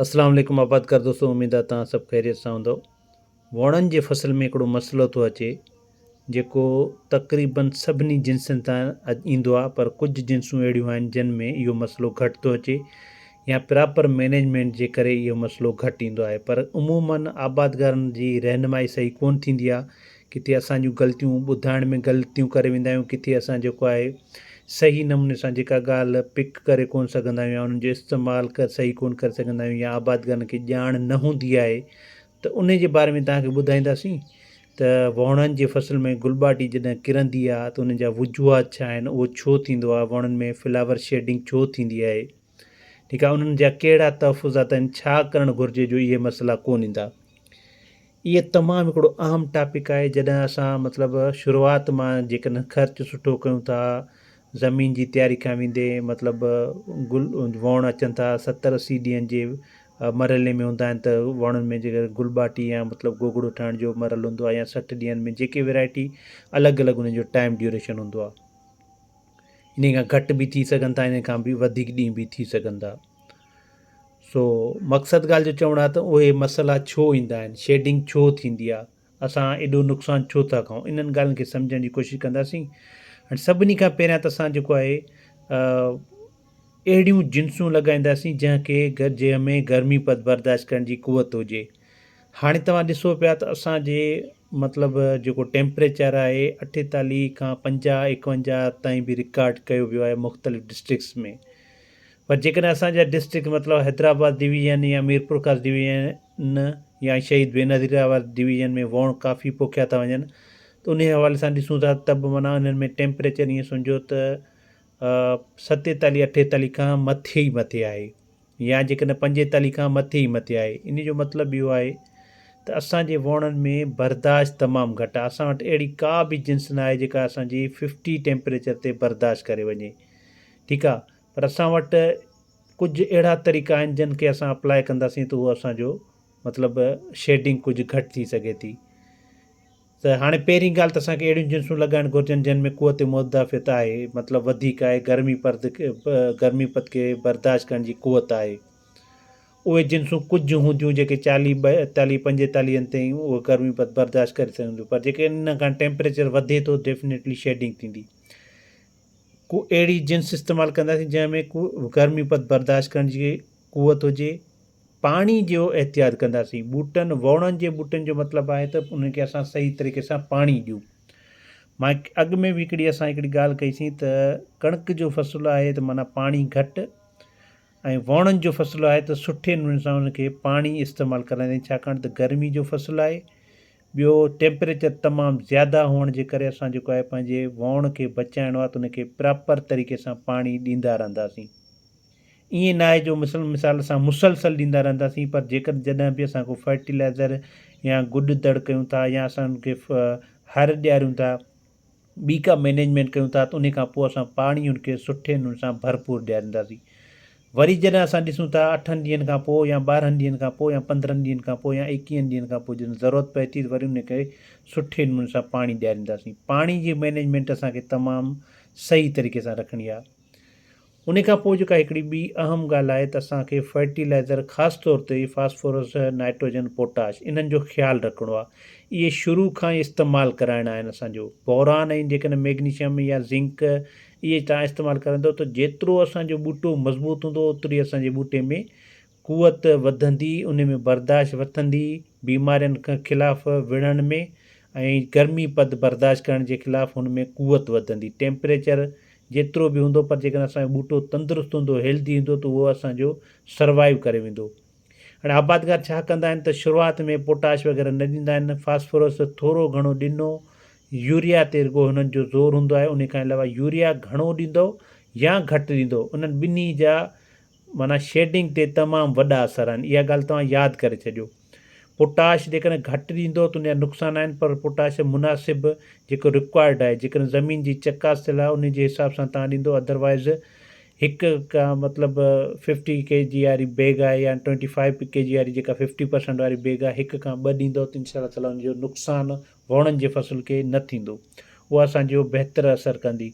اسلام عليڪم آبادگار دوستو اميد آ توهان سڀ خيريت سان هوندؤ ووڻن جي فصل ۾ هڪڙو مسئلو ٿو اچي جيڪو تقريبن سڀني جنسن تان ايندو آ پر ڪجهه جنسون اهڙيون آهن جن ۾ اهو مسئلو گهٽ ٿو اچي يا پراپر مينيجمينٽ جي ڪري اهو مسئلو گهٽ ايندو آهي پر عمومن آبادگارن جي رهنمائي صحيح ڪون ٿيندي آ ڪٿي اسان جون غلطيون ٻڌائڻ ۾ غلطيون ڪري ويندا آهيون ڪٿي اسان جيڪو آهي صحيح نموني سان جيڪا ڳالهه پڪ ڪري ڪونه سگهندا آهيون يا انهن جو استعمال ڪر صحيح ڪونه ڪري سگهندا آهيون يا آبادگارن کي ڄاڻ نه هوندي آهي ته انهي جي باري ۾ توهان کي ٻڌائينداسين ته وهڻن جي فصل ۾ گل ٻاٽي جڏهن ڪرندي آهي ته ان جا وجوهات ڇا آهن اهو ڇو ٿيندو آهي وهڻن ۾ فلاور شيڊنگ ڇو ٿيندي آهي ٺيڪ آهي انهن جا ڪهڙا تحفظات آهن ڇا ڪرڻ گهرجي جو اهي مسئلا ڪون ايندا اهي تمام هڪڙو اهم ٽاپڪ آهي جڏهن اسان مطلب شروعات مان جيڪڏهن خرچ سٺو ڪيون ٿا زمين جي تياري کان ويندي مطلب گل ووڻ اچن ٿا ستر اسي ڏينهن جي مرحلي ۾ هوندا آهن ته وڻن ۾ جيڪر گل ٻاٽي يا مطلب گوگڙو ٺاهڻ جو مرحلو هوندو آهي يا سٺ ڏينهن ۾ جيڪي ويرائٽي الڳ الڳ ان جو ٽائم ڊيوريشن هوندو آهي انهي کان گهٽ به ٿي سگهن ٿا انهي کان به وڌيڪ ڏينهن به ٿي سگهن ٿا سو مقصد ڳالهه جو چوڻ آهي ته اهي مسئلا ڇو ايندا آهن شيڊنگ ڇو ٿيندي آهي اسان ايڏو نقصان ڇو ٿا کائون انهن ڳالهين کي سمجهڻ جي ڪوشش ڪنداسين ۽ سڀني کان پهريان ته اسان جيڪو آهي اهڙيون جنسون لڳائينداسين جنهن کي جنهن ۾ گرمي برداشت ڪرڻ جي قوت هجي هاڻي توهان ڏسو پيا ته اسان جي مطلب جيڪو ٽيمپريچر آهي اٺيتاليهه کان پنجاهه ايڪونجاهه تائين به رڪارڊ ڪيو ويو آهي مختلف ڊسٽرڪس ۾ پر جيڪڏهن اسان جا ڊسٽرڪ مطلب حيدرآباد ڊويزن يا ميرپورخاص ڊويزن يا شهيد بينظير آباد ڊويزن ۾ ووڻ ڪافي پوکيا ٿا وڃن ته انهي حوالي سان ڏسون ٿا ته به معنيٰ انهن ۾ ٽيمپريچر ائين سمجهو ته ستيتاليهه اٺيتاليهه کان مٿي ئي مٿي آهي يا جيڪڏهن پنجيتاليهه کان مٿي ئي مٿي آهي ان جو مطلب اهو آهي ته اسانجي ووڻن ۾ برداشت تمام گهٽ آهي اسان وٽ اهڙي ڪا به جنس ناهي جيڪا اسانجي ففٽي ٽيمپريچر تي برداشت ڪري وڃي ٺيڪ آهي پر اسان وٽ ڪجهه اهڙا طريقا آهن جن کي اسان اپلاء ڪنداسين ته اهو اسانجو مطلب شيڊنگ ڪجهه گهٽ ٿي سگهي ٿي ته هاڻي پهرين ڳالهه ته اسان کي اهڙيون جنسون لڳائڻ گهرجن جن ۾ قوت مدافعت آهي مطلب وڌيڪ آهي گرمي پرد گرمي پد کي برداشت ڪرڻ جي قوت آهي اهي جنسون ڪجهه هونديون جيڪي چاليهه ٻائيتاليهه پنجيتاليهن تائين اهي گرمي پد برداشت ڪري سگهنديون پر جيڪي ان کان ٽيمپريچر وڌي ٿو ڊيفنيٽلي شيڊنگ ٿيندي ڪو اهڙي جنس استعمال ڪنداسين جنهن ۾ ڪو گرمي پد برداشت ڪرڻ جي قوت هجي پاڻي جو احتياط ڪنداسين ٻوٽن ووڻن جي ٻوٽن جو مطلب آهي ته انهن کي اسان صحيح طريقي سان پاڻي ڏيون ماء اڳ ۾ به هڪڙي اسان هڪڙي ڳالهه ڪئيسين ته ڪڻڪ جو فصل آهي ته معنيٰ پاڻي گهٽ ۽ ووڻن جو فصل آهي ته سٺي نموني سان ان کي پاڻي استعمال ڪرائين ڇاڪاڻ ته گرمي جو فصل آهي ٻيو ٽيمپريچر تمام زياده هئڻ جي ڪري اسان جيڪو آهي پنهنجي وئوڻ کي بچائڻو آهي ته ان کي پراپر طريقي سان پاڻي ڏيندا رهنداسين ائين نه آهي جو مثل مثال اسان مسلسل ڏيندا رهنداسين پر جيڪڏهن جڏهن به اسان ڪو فرٽيلائزر يا گڏ دڙ ڪيون ٿا يا اسان ان کي هر ڏياريون ٿا ٻي ڪا مينيجمينٽ ڪيون ٿا ته انهي کان پوء اسان پاڻي ان کي سٺي نموني سان ڀرپور ڏيارينداسين وري جڏهن اسان ڏسون ٿا اٺن ڏينهن کان پوء يا ٻارهن ڏينهن کان پوء يا پندرهن ڏينهن کان پوء يا ايڪيهن ڏينهن کان پوء جڏهن ضرورت پئي ٿي ته وري انهي کي سٺي نموني سان پاڻي ڏيارينداسين پاڻي جي مينيجمينٽ اسان کي تمام صحيح طريقي سان رکڻي آهي انهي کان پوء جيڪا هڪڙي ٻي اهم ڳالهه آهي ته اسان کي فرٽي لائزر خاص طور تي فاسفورس، نائٽروجن، پوٽاش انهن جو خيال رکڻو آهي. اهي شروع کان ئي استعمال ڪرائڻا آهن اسان جو. بوران ۽ جيڪڏهن ميگنيشم يا زنڪ اهي توهان استعمال ڪرندو ته جيترو اسان جو ٻوٽو مضبوط هوندو اوتري اسان جي ٻوٽي ۾ قوت وڌندي، ان ۾ برداشت وٿندي، بيمارين خلاف وڙهڻ ۾ ۽ گرمي پد برداشت ڪرڻ جي خلاف هن ۾ قوت وڌندي. ٽيمپريچر جيترو به هوندو پر جيڪڏهن اسان جو ٻوٽو تندرست هوندو، هيلڌي هوندو ته اهو اسان جو سروائيو ڪري ويندو. هاڻي آبادگار ڇا ڪندا آهن ته شروعات ۾ پوٽاش وغيره نه ڏيندا آهن، فاسفورس ٿورو گهڻو ڏنو، يوريا تي رڳو هنن جو زور هوندو آهي، انهي کان علاوه يوريا گهڻو ڏيندؤ يا گهٽ ڏيندؤ انهن ٻنهي جا معنيٰ شيڊنگ تي تمام وڏا اثر آهن اها ڳالهه توهان ياد ڪري ڇڏيو. پوٽاش جيڪڏهن گهٽ ڏيندو ته ان جا نقصان آهن پر پوٽاش مناسب جيڪو رڪوائرڊ آهي جيڪڏهن زمين جي چڪاس ٿيل آهي ان جي حساب سان توهان ڏيندو اڌروائيز هڪ ڪا مطلب ففٽي ڪي جي واري بيگ آهي يا ٽوئنٽي فائيو ڪي جي واري جيڪا ففٽي پرسنٽ واري بيگ آهي هڪ کان ٻه ڏيندو ته انشاء الله تعالٰي ان جو نقصان ووڻن جي فصل کي نه ٿيندو اها اسان جو بهتر اثر ڪندي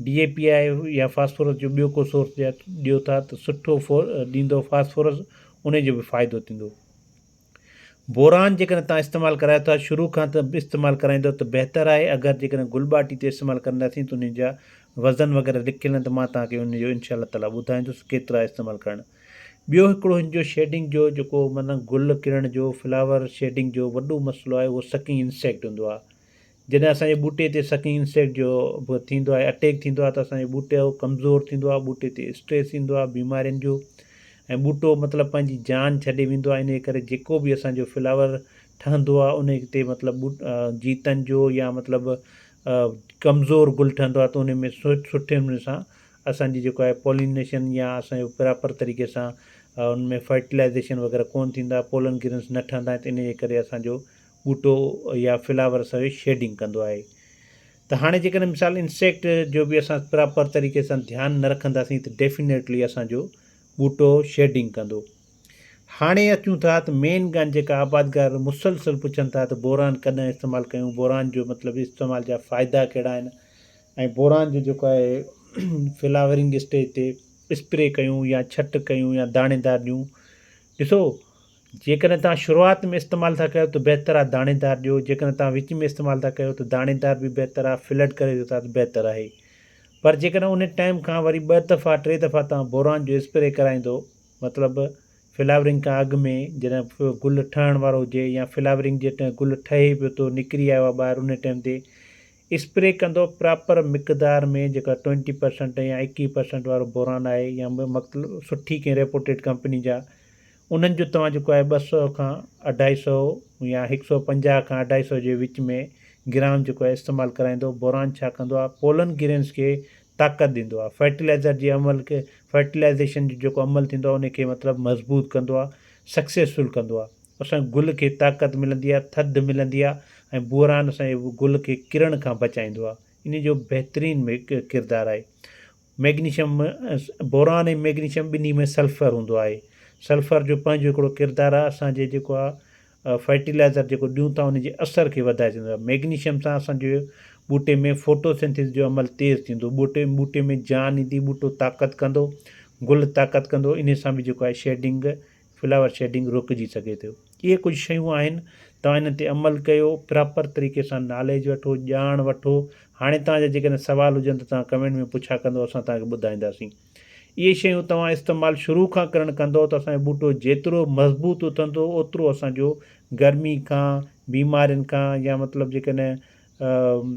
ڊي اي پي آهي يا فاسفورس جو ٻيو ڪو سورس ڏيو ٿا ته سٺو ڏيندو فاسفورس انهي جو به فائدو ٿيندو بوران جيڪڏهن تان استعمال ڪرايو ٿا شروع کان ته استعمال ڪرائيندو ته بهتر آهي اگر جيڪڏهن گل ٻاٽي تي استعمال ڪنداسين ته انهي جا وزن وغيره لکيل آهن ته مان تان کي انهي جو انشاء الله تعالي ٻڌائيندس ڪيترا استعمال ڪرڻ ٻيو هڪڙو هن جو شيڊنگ جو جيڪو من گل ڪرڻ جو فلاور شيڊنگ جو وڏو مسئلو آهي اهو سڪنگ انسيڪٽ هوندو آهي جڏهن اسان جي ٻوٽي تي سڪنگ انسيڪٽ جو به ٿيندو آهي اٽيڪ ٿيندو آهي ته اسان جو ٻوٽو ڪمزور ٿيندو آهي ٻوٽي تي اسٽريس ايندو آهي بيمارين جو ۽ ٻوٽو مطلب پنهنجي جان ڇڏي ويندو آهي انهي ڪري جيڪو به اسان جو فلاور ٺهندو آهي انهي تي مطلب جيتن جو يا مطلب ڪمزور گل ٺهندو آهي ته انهي ۾ سٺي نموني سان اسان جي جيڪو آهي پولينيشن يا اسان جو پراپر طريقي سان ان ۾ فرٽيلائيزيشن وغيره ڪون ٿيندا آهي پولن گرينس نه ٺهندا آهن ته ان جي ڪري اسان جو ٻوٽو يا فلاور اسان جو شيڊنگ ڪندو آهي ته هاڻي جيڪڏهن مثال انسيڪٽ جو به اسان پراپر طريقي سان ڌيان نه رکنداسين ته ڊيفينيٽلي اسان جو ٻوٽو شيڊنگ ڪندو هاڻي اچون ٿا ته مين ڳالهه جيڪا آبادگار مسلسل پڇن ٿا ته بوران ڪڏهن استعمال ڪيون بوران جو مطلب استعمال جا فائدا ڪهڙا آهن ۽ بوران جو جيڪو آهي فلاورنگ اسٽيج تي اسپري ڪيون يا ڇٽ ڪيون يا داڻي دار ڏيون ڏسو جيڪڏهن تان شروعات ۾ استعمال ٿا ڪيو ته بهتر آهي داڻي دار ڏيو جيڪڏهن تان وچ ۾ استعمال ٿا ڪيو ته داڻي دار به بهتر آهي فلڊ ڪري ڏيو ٿا ته بهتر آهي پر جيڪڏهن ان ٽائم کان وري ٻه دفعا ٽي دفعا تان بوران جو اسپري ڪرائيندو مطلب فلاورنگ کان اڳ ۾ جڏهن گل ٺهڻ وارو هجي يا فلاورنگ جي ٽائم گل ٺهي پيو ٿو نڪري آيو آهي ٻاهر ان ٽائم تي اسپري ڪندو پراپر مقدار ۾ جيڪا ٽوئنٽي پرسنٽ يا ايڪيهه پرسنٽ وارو بوران آهي يا مطلب سٺي ڪنهن ريپوٽيڊ ڪمپني جا انهن جو توهان جيڪو آهي ٻه سؤ کان اڍائي سؤ يا هڪ سؤ پنجاهه کان اڍائي سؤ جي وچ ۾ گرام جيڪو آهي استعمال ڪرائيندو بوران ڇا ڪندو آهي پولن گرينز کي طاقت ڏيندو آهي فرٽيلائزر جي عمل کي فرٽيلائزيشن جو جيڪو عمل ٿيندو آهي ان کي مطلب مضبوط ڪندو آهي سڪسيسفل ڪندو آهي اسان گل کي طاقت ملندي آهي، ٿڌ ملندي آهي ۽ بوران اسان جي گل کي ڪرڻ کان بچائيندو آهي. انهي جو بهترين ڪردار آهي. مئگنيشم، بوران ۽ مئگنيشم ٻنهي ۾ سلفر هوندو آهي. سلفر جو پنهنجو هڪڙو ڪردار آهي اسان جي جيڪو آهي فرٽيلائزر جيڪو ڏيون ٿا ان جي اثر کي وڌائي سگهندو آهي. مئگنيشم سان اسان جي ٻوٽي ۾ فوٽوسنٿيز جو عمل تيز ٿيندو. ٻوٽي ٻوٽي ۾ جان ايندي، ٻوٽو طاقت ڪندو، گل طاقت ڪندو انهي سان به جيڪو آهي شيڊنگ فلاور شيڊنگ روڪجي سگهي ٿو اهي ڪجهه شيون آهن توهان انهن تي عمل ڪيو پراپر طريقي سان ناليج وٺو ڄاڻ وٺو هاڻي توهان جا جيڪڏهن سوال هجن ته توهان ڪمينٽ ۾ پڇا ڪندو اسان توهان کي ٻڌائينداسين اهي شيون توهان استعمال شروع کان ڪرڻ ڪندو ته اسان جو ٻوٽو جيترو مضبوط اٿندو اوترو اسان جو گرمي کان بيمارين کان يا مطلب جيڪڏهن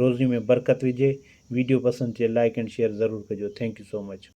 روزي ۾ برڪت وجهي. ويڊيو پسند چي لائيڪ اينڊ شيئر ضرور ڪجو ٿينڪ يو سو مچ.